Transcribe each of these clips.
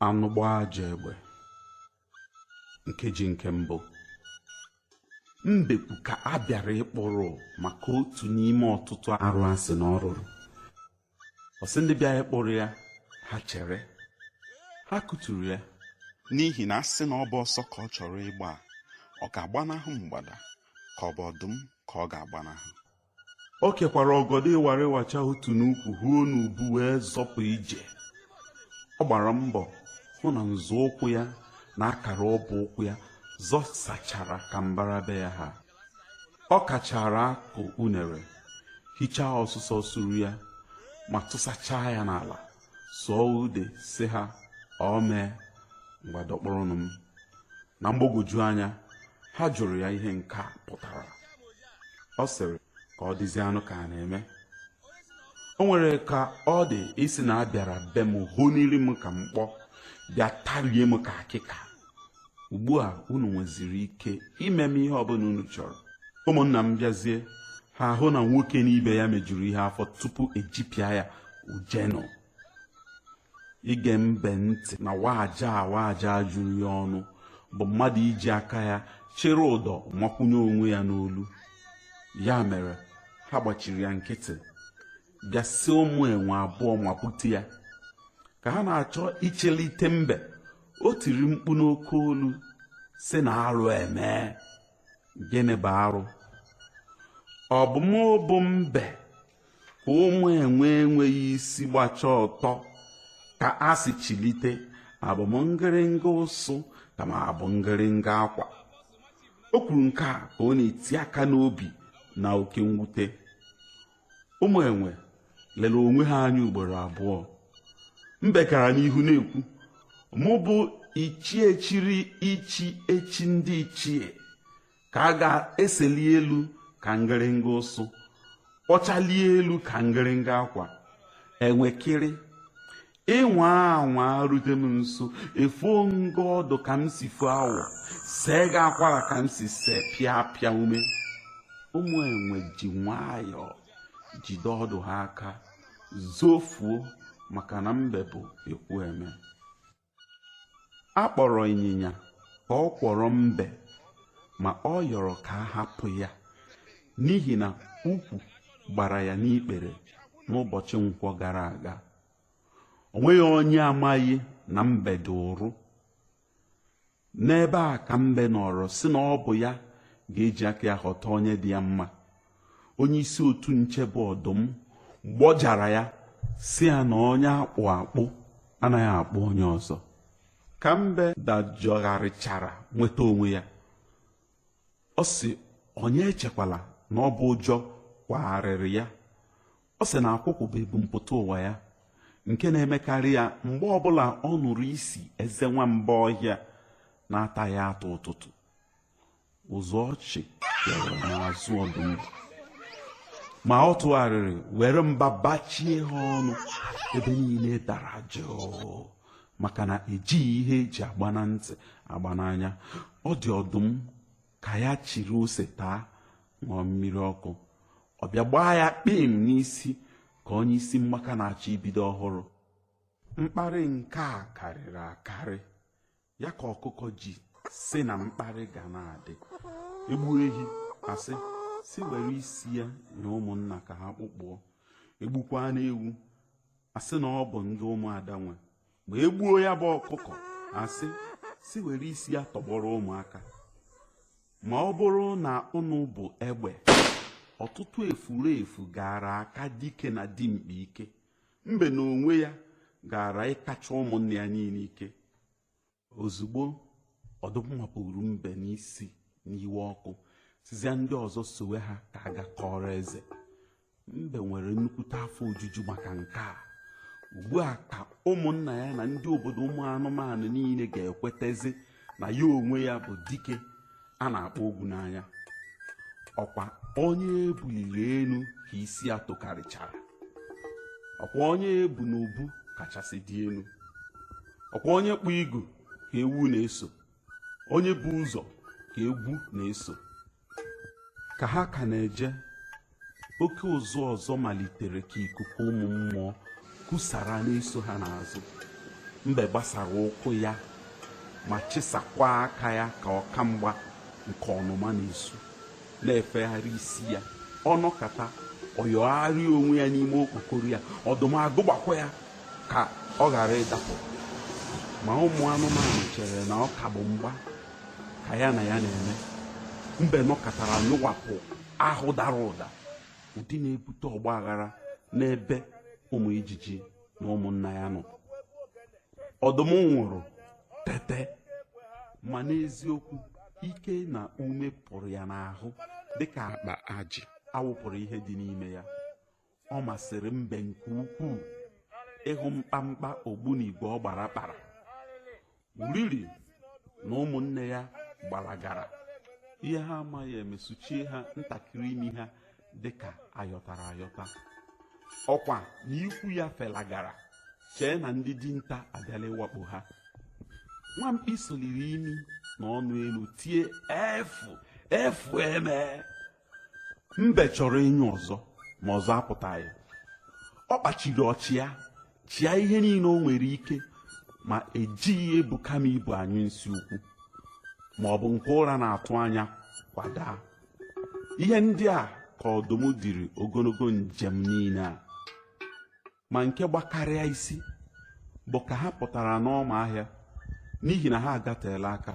anụ gbaa ajọ egbe nkeji nke mbụ mbekwu ka a bịara ịkpụrụ maka otu n'ime ọtụtụ arụ a sị na ọ rụrụ ọ sị ndị bịara ịkpụrụ ya ha chere ha kụturu ya n'ihi na a sị na ọ bụ ọsọ ka ọ chọrọ ịgba ọ ga-agbanahụ mgbada ka ọ bụ ọdụm ka ọ ga-agbanahụ o kekwara ọgọdọ ịwarịwacha otu n'ukwu huo n'ubu wee zọpụ ije ọ gbara mbọ hụ na nzọụkwụ ya na akara ọbụ ụkwụ ya zọsachara ka mbara be ya ha ọ kachara akụ unere hichaa ọsụsọ suru ya ma tụsachaa ya n'ala sụọ ude sị ha ọ mee ngwa dọkpụrụnụ m na mgbagwoju anya ha jụrụ ya ihe nke a pụtara ọ sịrị ka ọ dịzie anụ ka a na-eme o nwere ka ọ dị ịsị na a bịara be m honiri m ka mkpọ bịa tarie m ka akịka ugbu a unu nweziri ike ime m ihe ọbụla unu chọrọ ụmụnna m bịazie ha ahụ na nwoke n'ibe ya mejuru ihe afọ tupu ejipịa ya ujenụ ige mbe ntị na waja waja juru ya ọnụ bụ mmadụ iji aka ya chịrị ụdọ makwunye onwe ya n'olu ya mere ha gbachiri ya nkịtị bịa sị ụmụ enwe abụọ mapụta ya ka ha na-achọ ichilite mbe o tiri mkpu n'oke olu sị na arụ emee gịnị bụ arụ ọ bụ mụ bụ mbe ka ụmụ enwe enweghị isi gbacha ọtọ ka a sị chilite abụ m ngịrịnga ụsụ ka m abụ ngịrịnga akwa o kwuru nke a ka ọ na-eti aka n'obi na oke mwute ụmụ enwe lere onwe ha anya ugboro abụọ mbe gara n'ihu na-ekwu mụ bụ ichie chiri ichi echi ndị ichie ka a ga-eseli elu ka ngịrịnga ụsụ kpọchalie elu ka ngịrịnga akwa enwekịrị ị nwaa anwa rute m nso efuo m gị ọdụ ka m si fuo awọ see gị akwara ka m si see pịa pịa ume ụmụ enwe ji nwayọọ jide ọdụ ha aka zofuo maka na mbe bụ ekwu eme a kpọrọ ịnyịnya ka ọ kwọrọ mbe ma ọ yọrọ ka a hapụ ya n'ihi na ukwu gbara ya n'ikpere n'ụbọchị nkwọ gara aga onweghị onye amaghị na mbe dị ụrụ n'ebe a ka mbe nọrọ sị na ọ bụ ya ga-eji aka ya họta onye dị ya mma onye isi otu nche bụ ọdụm gbọjara ya sị ya na onye akpụ akpụ anaghị akpụ onye ọzọ ka mbe dajọgharịchara nweta onwe ya ọ sị onye echekwala na ọ bụ ụjọ kwagharịrị ya ọ sị na akwụkwụ bụ ebumpụta ụwa ya nke na-emekarị ya mgbe ọbụla ọ nụrụ isi eze nwamba ọhịa na-ataghị atụ ụtụtụ ụzụ ọchị bịara n'azụ ọdụm ma ọ tụgharịrị were mba bachie ha ọnụ ebe niile dara jụụ maka na ejighị ihe eji agba na ntị agba n'anya ọ dị ọdụm ka ya chịrị ose taa ṅụọ mmiri ọkụ ọ bịa gbaa ya kpim n'isi ka onye isi mmaka na-achọ ibido ọhụrụ mkparị nke a karịrị akarị ya ka ọkụkọ ji sị na mkparị ga na-adị egbu ehi asị si were isi ya nye ụmụnna ka ha kpụkpụọ egbukwanụ ewu asị na ọ bụ ndị ụmụada nwe ma e gbuo ya bụ ọkụkọ asị si were isi ya tọgbọrọ ụmụaka ma ọ bụrụ na ọnụ bụ egbe ọtụtụ efurefu gara aka dike na dimkpa ike mbe n'onwe ya gara ịkacha ụmụnne ya niile ike ozugbo ọdụm mapụrụ mbe n'isi n'iwe ọkụ sịzịa ndị ọzọ sowe ha ka a gaa kọọrọ eze mbe nwere nnukwute afọ ojuju maka nke a ugbu a ka ụmụnna ya na ndị obodo ụmụ anụmanụ niile ga-ekwetezi na ya onwe ya bụ dike a na-akpọ ogwu n'anya ọkwa onye ebuliri elu ka isi ya tokarịchara ọkwa onye ebu n'ubu kachasị dị elu ọkwa onye kpụ igu ka ewu na-eso onye bu ụzọ ka egwu na-eso ka ha ka na-eje oke ụzụ ọzọ malitere ka ikuku ụmụ mmụọ kusara na-eso ha n'azụ mbe gbasara ụkwụ ya ma chịsakwa aka ya ka ọka mgba nke ọnụma na-esu na-efegharị isi ya ọ nọkata ọ yọgharịa onwe ya n'ime okpokoro ya ọdụm agụgbakwa ya ka ọ ghara ịdapụ ma ụmụ anụmanụ chere na ọ ka bụ mgba ka ya na ya na-eme mbe nọkatara nyụwapụ ahụ dara ụda ụdị na-ebute ọgba aghara n'ebe ụmụ ijiji na ụmụnna ya nọ ọdụm nwụrụ tete ma n'eziokwu ike na ume pụrụ ya n'ahụ dịka akpa ajị awụpụrụ ihe dị n'ime ya ọ masịrị mbe nke ukwuu ịhụ mkpamkpa ogbunigwe ọ gbara kpara uriri na ụmụnne ya gbalagara ihe ha amaghị emesuchie ha ntakịrị imi ha dị ka ayọtara ayọta ọkwa na ikwu ya felagara chee na ndị dinta abịala ịwakpo ha nwa mkpi soliri imi na ọnụ elu tie efu efu eme mbe chọrọ ịnyụ ọzọ ma ọzọ apụtaghị ọ kpachiri ọchị ya chịa ihe niile o nwere ike ma e jighị ebuka m ibu anyụ nsị ukwu ma ọ bụ nke ụra na-atụ anya kwadaa ihe ndị a ka ọdụm diri ogologo njem niile a ma nke gbakarịa isi bụ ka ha pụtara n'ọma ahịa n'ihi na ha agateela aka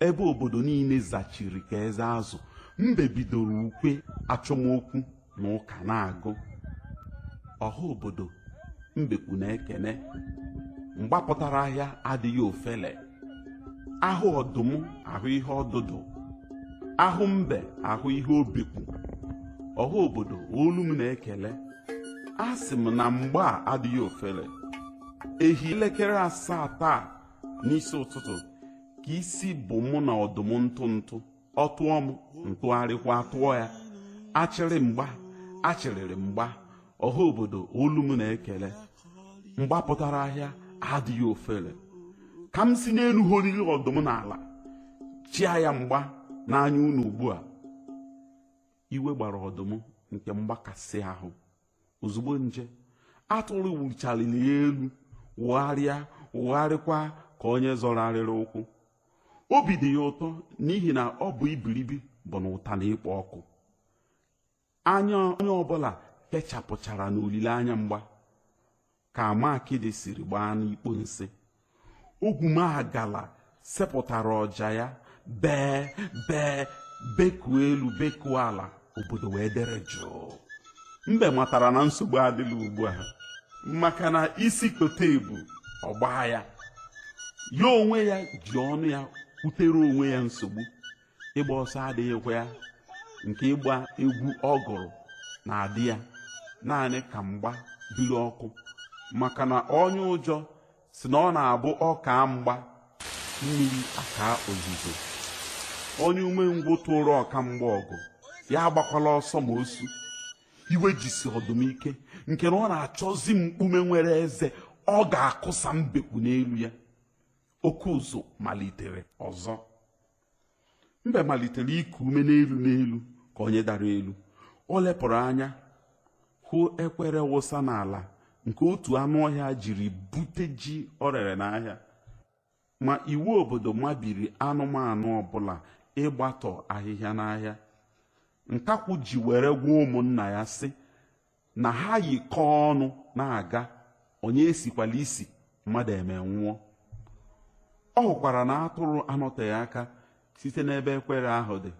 ebe obodo niile zachiri ka eze azụ mbe bidoro ukwe achọmokwu na ụka na-agụ ọha obodo mbekwu na-ekene mgba pụtara ahịa adịghị ofele ahụ ọdụm ahụ ihe ọdụdụ ahụ mbe ahụ ihe obikwu ọha obodo olu m na-ekele a sị m na mgba a adịghị ofele ehi elekere asaa taa n'isi ụtụtụ ka isi bụ mụ na ọdụm ntụ ntụ ọ tụọ m m tụgharịkwa tụọ ya achịrị mgba achịrịrị mgba ọha obodo olu m na-ekele mgba pụtara ahịa adịghị ofele ka m si n'elu horiri ọdụm n'ala chịa ya mgba n'anya unu ugbu a iwe gbara ọdụm nke mgbakasị ahụ ozugbo nje atụrụ wuchaliri elu wụgharịa wụgharịkwa ka onye zọrọ arịrị ụkwụ obi dị ya ụtọ n'ihi na ọ bụ ibiribi bụ na ụta na-ekpo ọkụ anya onye ọbụla kechapụchara n'olileanya mgba ka ama akịdị siri gbaa n'ikpo nsị ogwumagala sepụtara ọja ya bee bee bekuo elu bekuo ala obodo wee dere jụụ mbe matara na nsogbu adịla ugbu a maka na isi kote ebu ọ gbaa ya ya onwe ya ji ọnụ ya kwutere onwe ya nsogbu ịgba ọsọ adịghịkwa ya nke ịgba egwu ọ gụrụ na-adị ya naanị ka mgba biri ọkụ maka na onye ụjọ sị na ọ na-abụ ọ kaa mgba mmiri akaa ozuzo onye umengwụ tụrụ ọka mgba ọgụ ya agbakwala ọsọ ma o su iwe jisi ọdụm ike nke na ọ na-achọzi mkpume nwere eze ọ ga-akụsa mbekwu n'elu ya oke ụzụ malitere ọzọ mbe malitere iku ume n'elu n'elu ka onye dara elu o lepụrụ anya hụ ekwere wụsa n'ala nke otu anụ ọhịa jiri bute ji o rere n'ahịa ma iwu obodo mabiri anụmanụ ọbụla ịgbatọ ahịhịa n'ahịa nkakwụ ji were gwa ụmụnna ya sị na ha yikọọ ọnụ na-aga onye esikwala isi mmadụ eme nwụọ ọ hụkwara na atụrụ anọteghị aka site n'ebe ekwere ahụ dị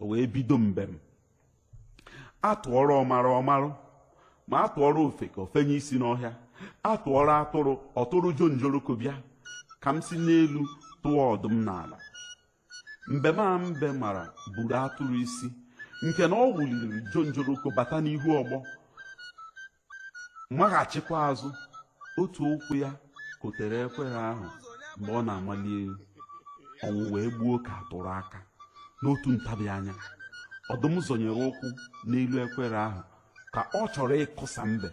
o wee bido mbem a tụọrọ ọmara ọ marụ ma a tụọrọ ofeke o fenye isi n'ọhịa a tụọrọ atụrụ ọ tụrụ jonjoroko bịa ka m si n'elu tụọ ọdụm n'ala mbem a mbe mara buru atụrụ isi nke na ọ wụliri jonjoroko bata n'ihu ọgbọ maghachikwa azụ otu ụkwụ ya kotere ekwere ahụ mgbe ọ na-amali elu ọṅụ wee gbuo ka atụrụ aka n'otu ntabi anya ọdụm zọnyere ụkwụ n'elu ekwere ahụ ka ọ chọrọ ịkụsa mbe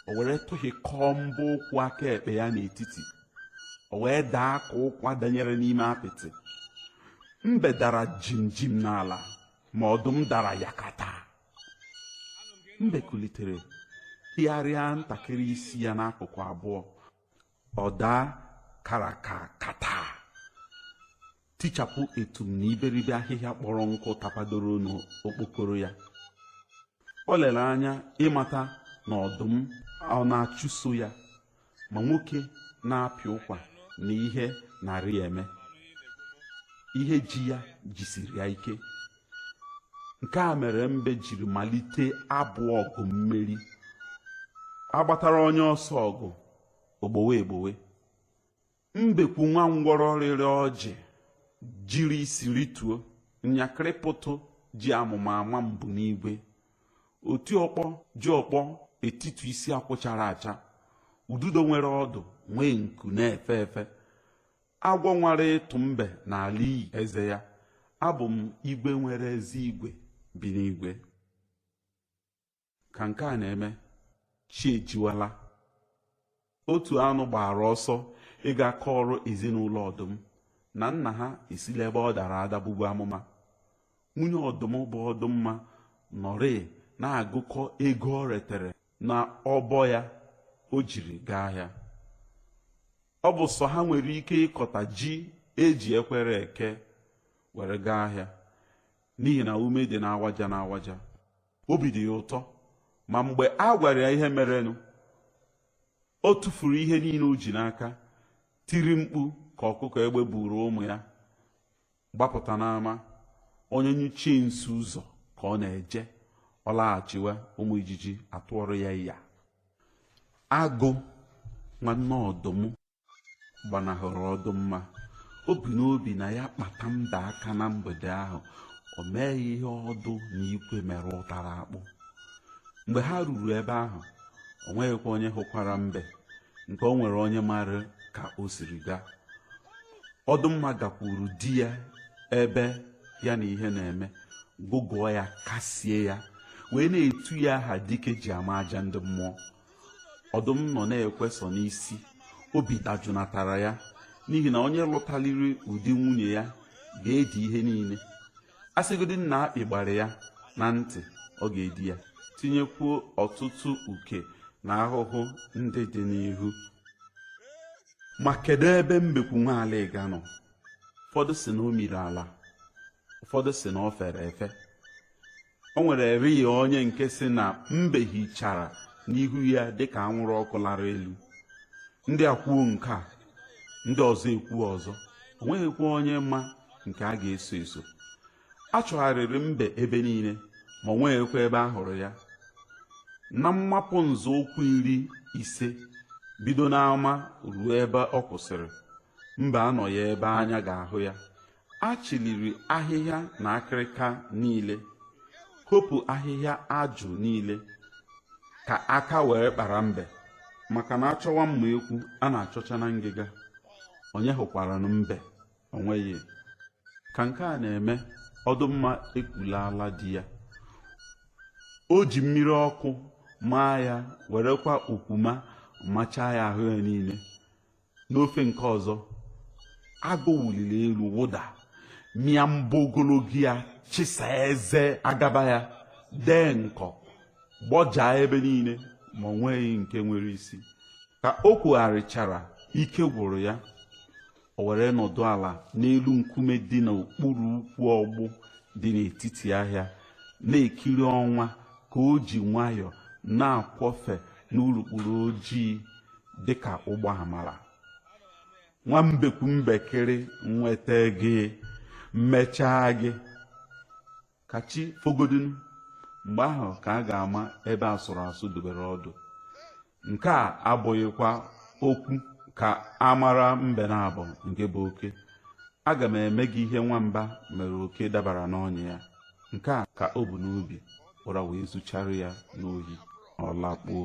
o were tụhịkọọ mbọ ụkwụ aka ekpe ya n'etiti o wee daa ka ụkwa danyere n'ime apịtị mbe dara jimjim n'ala ma ọdụm dara yakata mbe kulitere hịgharịa ntakịrị isi ya n'akụkụ abụọ ọ daa karakakata tichapụ etum na iberibe ahịhịa kpọrọ nkụ tapadoro n'okpokoro ya o lere anya ịmata na ọdụm ọ na-achụso ya ma nwoke na-apị ụkwa na ihe narị eme ihe ji ya jisiri ya ike nke a mere mbe jiri malite abụ ọgụ mmeri agbatara onye ọsọ ọgụ ogbowe egbowe mbekwu nwa ngwọrọ rịrị ọjị jiri isi rituo nyakịrị pụtụ ji amụma ama mbụ n'igwe oti ọkpọ ji ọkpọ etitu isi akwụ chara acha ududo nwere ọdụ nwee nku na-efe efe agwọ nwara ịtụ mbe na-ala iyi eze ya abụ m igwe nwere ezi igwe bi n'igwe ka nke a na-eme chi ejiwala otu anụ gbara ọsọ ịga kọọrọ ezinụlọ ọdụm na nna ha esila ebe ọ dara ada bụbu amụma nwunye ọdụm bụ ọdụmma nọrịị na-agụkọ ego o retere na ọbọ ya o jiri gaa ahịa ọ bụ sọ ha nwere ike ịkọta ji e ji ekwere eke were gaa ahịa n'ihi na ume dị n'awaja n'awaja obi dị ya ụtọ ma mgbe a gwara ya ihe merenụ o tụfuru ihe niile o ji n'aka tiri mkpu ka ọkụkọ egbe buru ụmụ ya gbapụta n'ama onye nyuchie nsị ụzọ ka ọ na-eje ọ laghachiwe ụmụ ijiji atụọrọ ya ya agụ nwanne ọdụm gbanahụrụ ọdụmma o bu n'obi na ya kpata mbe aka na mgbede ahụ o mee ya ihe ọdụ na ikwe mere ụtara akpụ mgbe ha ruru ebe ahụ o nweghịkwa onye hụkwara mbe nke o nwere onye mara ka o siri gaa ọdụmma gakwuru di ya ebe ya na ihe na-eme gụgụọ ya kasie ya wee na-etu ya aha dike ji ama aja ndị mmụọ ọdụm nọ na-ekwe sọ n'isi obi dajụnatara ya n'ihi na onye lụtaliri ụdị nwunye ya ga-edi ihe niile a sịgodị na akpị gbara ya na ntị ọ ga-edi ya tinyekwuo ọtụtụ uke na ahụhụ ndị dị n'ihu ma kedu ebe mbekwu nwa alịga nọ ụfọdụ sị na o miri ala ụfọdụ sị na o fere efe o nwerịrị onye nke sị na mbe hichara n'ihu ya dịka anwụrụ ọkụ lara elu ndị a kwuo nke a ndị ọzọ ekwuo ọzọ o nweghịkwa onye ma nke a ga-eso eso a chọgharịrị mbe ebe niile ma o nweghịkwa ebe a hụrụ ya na mmapụ nzọụkwụ iri ise bido n'ama ruo ebe ọ kwụsịrị mbe anọghị ebe anya ga-ahụ ya a chịliri ahịhịa na akịrịka niile hopu ahịhịa ajụ niile ka aka were kpara mbe maka na a chọwa mma ekwu a na-achọcha na ngịga onye hụkwaranụ mbe o nweghị ka nke a na-eme ọdụmma ekulala di ya o ji mmiri ọkụ maa ya werekwa okwuma machaa ya ahụ ya niile n'ofe nke ọzọ agụ wuliri elu wụda mịa mbọ ogologo ya chịsa eze agaba ya dị nkọ gbọjaa ebe niile ma o nweghị nke nwere isi ka o kwugharịchara ike gwụrụ ya o were nọdụ ala n'elu nkume dị n'okpuru ukwu ọgbụ dị n'etiti ahịa na-ekiri ọnwa ka o ji nwayọọ na-akwọfe n'urukpuru ojii dị ka ụgbọ amara nwa mbekwu mbekere nweta gị m mechaa gị ka chi fogodinụ mgbe ahụ ka a ga-ama ebe asụrụ asụ dobere ọdụ nke a abụghịkwa okwu ka a mara mbe naabọ nke bụ oke aga m eme gị ihe nwamba mere oke dabara n'ọnya ya nke a ka o bu n'obi ụra wee zuchara ya n'ohi ọ lakpuo